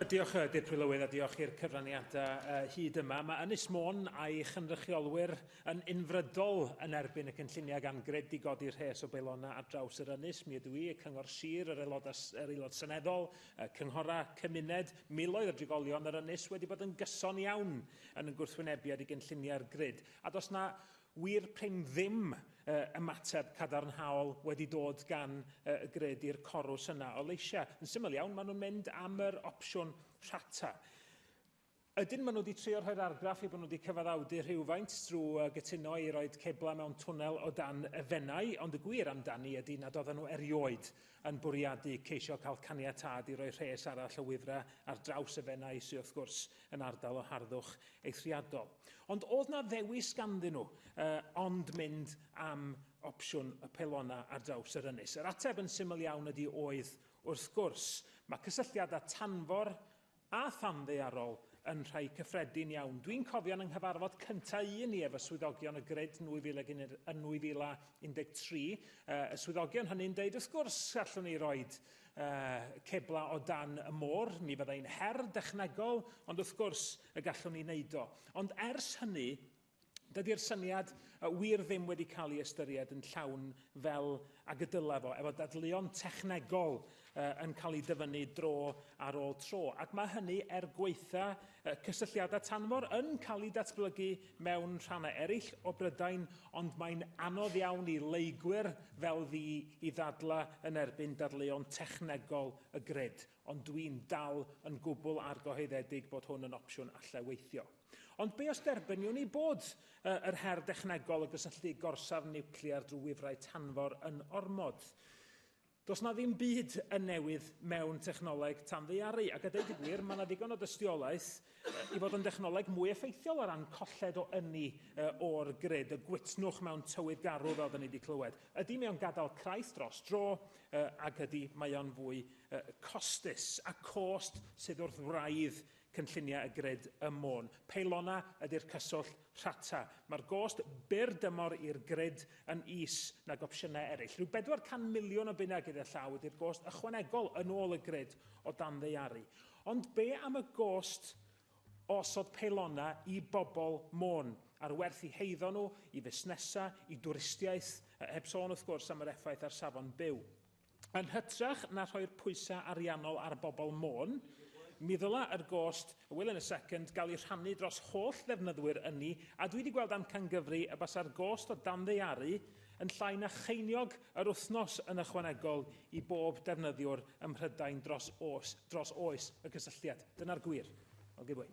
Diolch, uh, Dir Prylywydd, a diolch i'r cyfraniadau uh, hyd yma. Mae Ynys Môn a'i chynrychiolwyr yn unfrydol yn erbyn y cynlluniau gan gred i godi rhes o beilona ar draws yr ynys. Mi ydw i, y Cyngor Sir, yr aelod, yr aelod seneddol, y cynghorau, cymuned, miloedd o drigolion yr ynys wedi bod yn gyson iawn yn yn gwrthwynebiad i gynlluniau'r grid. A dos na Wir prin ddim ymateb cadarnhaol wedi dod gan y grid i'r corws yna o leisiau. Yn syml iawn, maen nhw'n mynd am yr opsiwn rhata. Ydyn maen nhw wedi trio rhoi'r argraff eu bod nhw wedi cyfaddawdu rhywfaint drwy gytuno i roed ceblau mewn twnnel o dan y Fenai, ond y gwir amdani ydy nad oedden nhw erioed yn bwriadu ceisio cael caniatâd i roi rhes arall o wifrau ar draws y Fenai, sydd wrth gwrs yn ardal o harddwch eithriadol. Ond oedd na ddewis ganddyn nhw uh, ond mynd am opsiwn y pelona ar draws yr ynys? Yr ateb yn syml iawn ydy oedd wrth gwrs. Mae cysylltiad â tanfor a thanddearol yn rhai cyffredin iawn. Dwi'n cofio yn nghyfarfod cyntaf un i efo swyddogion y grid yn 2013, y swyddogion hynny'n deud wrth gwrs allwn ni roed ceblau o dan y môr, mi fyddai'n her dechnegol, ond wrth gwrs y gallwn ni wneud o. Ond ers hynny, dydy'r syniad wir ddim wedi cael ei ystyried yn llawn fel ag y dylai fo, efo dadleuon technegol yn cael ei dyfynnu dro ar ôl tro. Ac mae hynny er gwaetha Y cysylltiadau tanfor yn cael eu datblygu mewn rhannau eraill o Brydain, ond mae'n anodd iawn i leygwyr fel fi i ddadlau yn erbyn dadleuon technegol y grid, ond dwi'n dal yn gwbl argyhoeddedig bod hwn yn opsiwn allai weithio. Ond be os derbyniwn i bod yr her dechnegol o gysylltu gorsaf niwclear drwy wifrau tanfor yn ormod? Does 'na ddim byd yn newydd mewn technoleg tanddaearu, ac a deud y gwir, mae 'na ddigon o dystiolaeth i fod yn dechnoleg mwy effeithiol o ran colled o ynni o'r grid, y gwytnwch mewn tywydd garw fel 'da ni 'di clywed. Ydy, mae o'n gadael craith dros dro, ac ydy, mae o'n fwy costus, a cost sydd wrth wraidd cynlluniau y grid ym Môn. Peilonau ydy'r cyswllt rhata. Mae'r gost byr dymor i'r grid yn is nag opsiynau eraill. Rhyw 400 miliwn o bunnau gyda llaw ydy'r gost ychwanegol yn ôl y grid o dan ddeiaru. Ond be am y gost o osod peilonau i bobl Môn, a'r werth i heiddo nhw, i fusnesau, i dwristiaeth, heb sôn wrth gwrs am yr effaith ar safon byw. Yn hytrach na rhoi'r pwysau ariannol ar bobl Môn, mi ddyla yr gost, y will in a second, gael ei rhannu dros holl ddefnyddwyr ynni, a dwi wedi gweld amcangyfri y basa'r gost o danddaearu yn llai na cheiniog yr wythnos yn ychwanegol i bob defnyddiwr ym Mhrydain dros oes, dros oes y cysylltiad. Dyna'r gwir. I'll give way.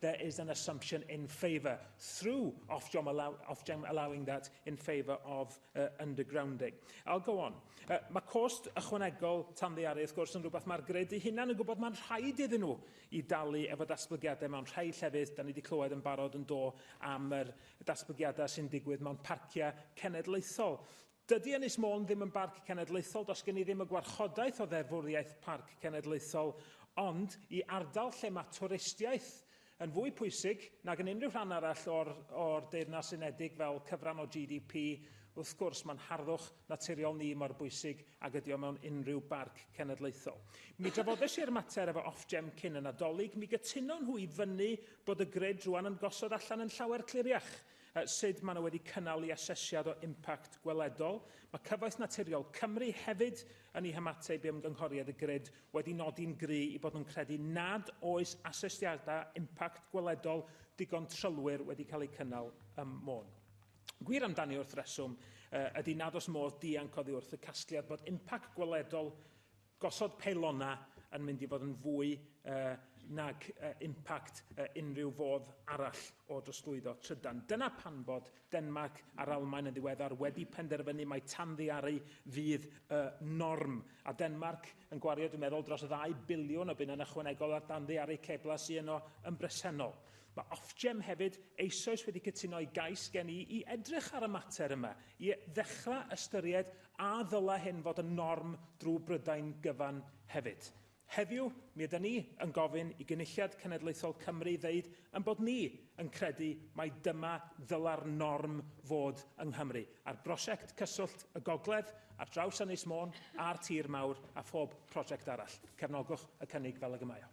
there is an assumption in favour through Ofgem, allow, Ofgem allowing that in favour of uh, undergrounding. I'll go on. Uh, mae cost ychwanegol tanddearu, wrth gwrs, yn rhywbeth mae'r gred ei hunan yn gwybod mae'n rhaid iddyn nhw i dalu efo datblygiadau mewn rhai llefydd, da ni wedi clywed yn barod yn do am yr datblygiadau sy'n digwydd mewn parciau cenedlaethol. Dydy Ynys Môn ddim yn Barc Cenedlaethol, does gen i ddim y gwarchodaeth o ddeddfwriaeth Parc Cenedlaethol, ond i ardal lle mae twristiaeth yn fwy pwysig nag yn unrhyw rhan arall o'r o'r Deyrnas Unedig fel cyfran o GDP, wrth gwrs mae'n harddwch naturiol ni mor bwysig ag ydy o mewn unrhyw Barc Cenedlaethol. Mi drafodes i'r mater efo Ofgem cyn y Nadolig, mi gytuno nhw i fyny bod y grid rwan yn gosod allan yn llawer cliriach. Sut maen nhw wedi cynnal i asesiad o impact gweledol. Mae Cyfoeth Naturiol Cymru hefyd yn ei hymateb i ymgynghoriad y grid wedi nodi'n gry i bod nhw'n credu nad oes asesiadau impact gweledol digon trylwyr wedi cael eu cynnal ym Môn. Gwir amdani wrth reswm ydy nad oes modd dianc oddi wrth y casgliad bod impact gweledol Gosod peilonau yn mynd i fod yn fwy nag impact unrhyw fodd arall o drosglwyddo trydan. Dyna pam bod Denmarc a'r Almaen yn ddiweddar wedi penderfynu mai tanddiaru fydd y norm. A Denmarc yn gwario, dwi'n meddwl, dros ddau biliwn o bunnau yn ychwanegol ar danddiaru ceblau sy yno yn bresennol. Mae Ofgem hefyd eisoes wedi cytuno i gais gen i i edrych ar y mater yma, i ddechrau ystyried A ddylai hyn fod yn norm drwy Brydain gyfan hefyd? Heddiw, mi ydyn ni yn gofyn i Gynulliad Cenedlaethol Cymru ddeud ein bod ni yn credu mai dyma ddylai'r norm fod yng Nghymru, ar brosiect Cyswllt y Gogledd ar draws Ynys Môn a'r Tir Mawr a phob prosiect arall. Cefnogwch y cynnig fel ag y mae o.